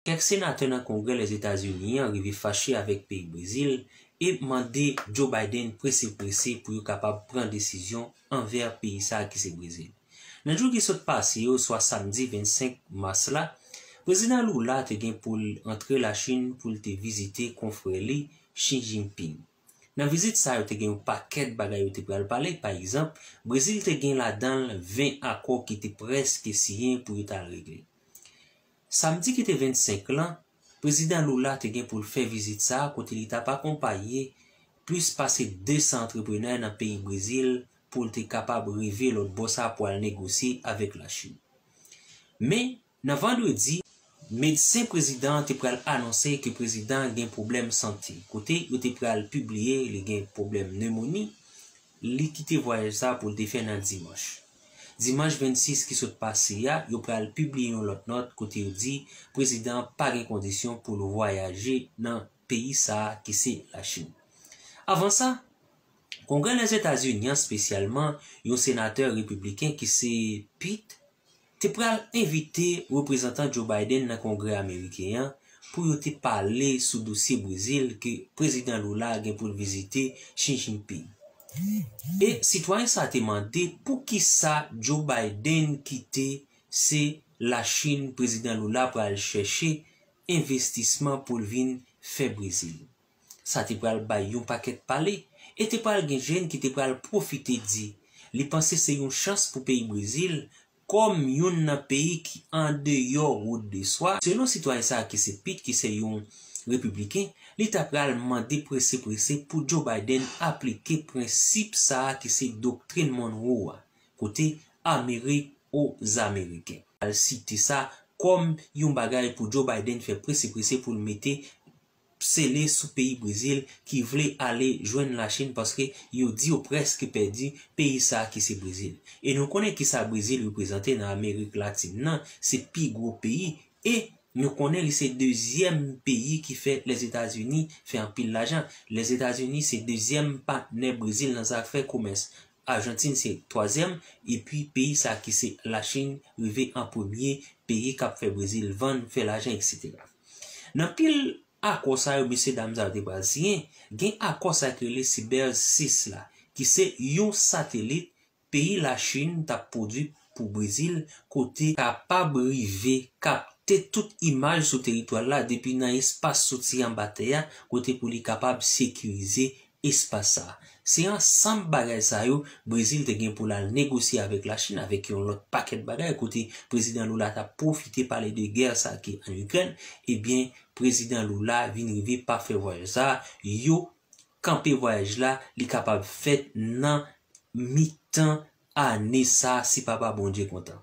Kèk senatè nan Kongrè Lèzetazini an rive fache avèk peyi Brezil e mande Joe Biden prese prese pou yo kapab pran desizyon anvè peyi sa ki se Brezil. Nan jou ki sot pase yo, swa samdi 25 mas la, Prezidan Lula te gen pou l antre Lachin pou l te vizite konfrè li Xi Jinping. Nan vizit sa yo te gen yon pakèt bagay yo te pral pale, pa egzanp, Brezil te gen ladan l 20 akò ki te prèske siyen pou yo t al regle. Samdi ki te 25 lan, Prezidan Lula te gen pou l fè vizit sa a kote li t ap akonpaye plis pase 200 antreprenè nan peyi Brezil pou l te kapab rive lòt bò sa a pou al negosye avèk Lachin. Men, nan vandredi, medsen prezidan an te pral anonse ke prezidan an gen pwoblèm sante kote yo te pral pibliye li gen pwoblèm nemoni, Li kite vwayaj sa pou l te fè nan dimanch. Dimanch 26 ki sot pase a, yo pral pibliye yon lòt nòt kote yo di prezidan an pa gen kondisyon pou l vwayaje nan peyi sa a ki se Lachin. Avan sa, Kongrè Lèzetazini an, spesyalman yon senatè repibliken ki se Pete, te pral envite reprezantan Joe Biden nan Kongrè ameriken an pou yo te pale sou dosye Brezil ke Prezidan Lula gen pou l vizite Xi Jinping. E sitwayen sa te mande poukisa Joe Biden kite se Lachin Prezidan Lula pral chèche envestisman pou l vin fè Brezil. Sa te pral bay yon pakèt pale e te pral gen jèn ki te pral pwofite di li panse se yon chans pou peyi Brezil kòm youn nan peyi ki andeyò wout de swa, selon sitwayen sa ki se Pete ki se yon Repibliken, li ta pral mande prese prese pou Joe Biden aplike prensip sa ki se Doktrin Monroe a, kote Amere o Zameriken. Al site sa kòm yon bagay pou Joe Biden fè prese prese pou l mete sele sou peyi Brezil ki vle ale jwenn la Chine paske yo di yo preske pèdi peyi sa ki se Brezil. E nou konnen kisa Brezil reprezante nan Amerik Latin nan, se pi gwo peyi e nou konnen li se dezyèm peyi ki fè Lèzetazini fè anpil lajan. Lèzetazini se dezyèm patnè Brezil nan zafè komès. Arjantin se twazyèm epi peyi sa ki se la Chine rive an premye peyi kap fè Brezil vann, fè lajan eksetera. Nan pil akò sa yo mesye dam sa yo te pral siyen, gen akò sa ki rele Sibèz 6 la, ki se yon satelit peyi Lachin t ap pwodui pou Brezil kote kapab rive kapte tout imaj sou teritwa l la depi nan espas soti anba tè a kote pou li kapab sekirize espas sa a. Se ansanm bagay sa yo Brezil te gen pou l al negosye avèk Lachin avèk yon lòt pakèt bagay kote Prezidan Lula t ap pwofite pale de gè sa ki ann Ikrèn, ebyen Prezidan Lula vin rive pa fè vwayaj sa a, yo kanpe vwayaj la, li kapab fèt nan mitan Ane sa si papa Bondye kontan.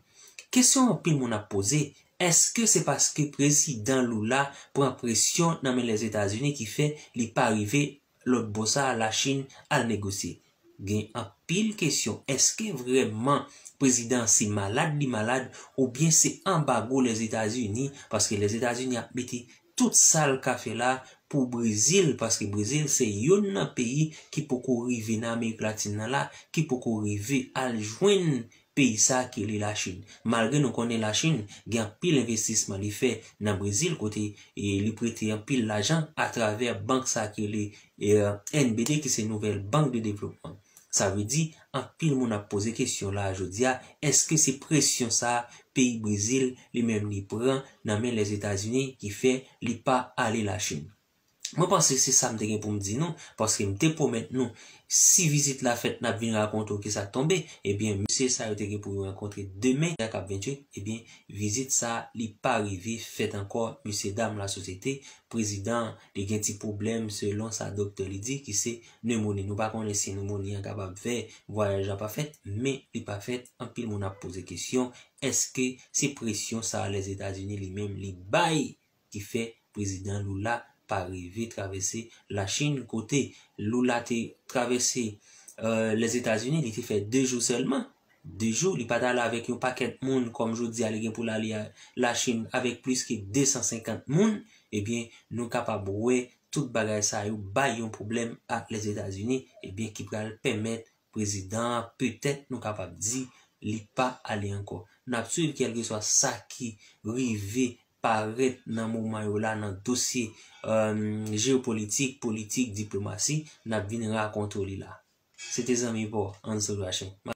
Kesyon anpil moun ap poze, eske se paske prezidan Lula pran presyon nan men Lèzetazini ki fè li pa rive lòt bò sa a Lachin al negosye? Gen anpil kesyon, eske vrèman prezidan an se malad li malad oubyen se anbago Lèzetazini paske Lèzetazini ap mete tout sal ka fè la pou brezil paske brezil se yonn nan peyi ki poko rive nan amerik latin nan la ki poko rive al jwenn peyi sa ki rele la chin malgre nou konnen la chin gen anpil envestisman li fè nan brezil kote li prete anpil lajan atravè bank sa ki rele NBD ki se nouvèl bank de devlopman sa vle di Anpil moun ap poze kesyon la a jodi a, èske se presyon sa a peyi Brezil li menm li pran nan men Lèzetazini ki fè li pa ale Lachin? Mwen panse se sa m te gen pou m di nou, paske m te pwomèt nou si vizit la fèt n ap vin rakonte w ki sa k tonbe, ebyen mesye sa yo te gen pou yo rankontre demen a k ap 28, ebyen vizit sa a li pa rive fèt ankò mesyedam lasosyete, prezidan an li gen ti pwoblèm selon sa doktè li di ki se Nemoni, Nou pa konnen si nemoni an kapab fè vwayaj la pa fèt, men li pa fèt, anpil moun ap poze kesyon, èske se presyon sa Lèzetazini li menm li bay ki fè Prezidan Lula pa rive travèse Lachin kote Lula te travèse Lèzetazini li te fè 2 jou sèlman, 2 jou li pa t ale avèk yon pakèt moun kòm jodi a li gen pou l ale Lachin avèk plis ke 250 moun, ebyen nou kapab wè Tout bagay sa yo bay yon pwoblèm ak Lèzetazini ebyen ki pral pèmèt prezidan an petèt nou kapab di li pa ale ankò. N ap swiv kèlkeswa sa ki rive parèt nan moman yo la nan dosye jeyopolitik, politik, diplomasi, n ap vin rakonte w li la. Se te zanmi pa w, Ansel Rachin.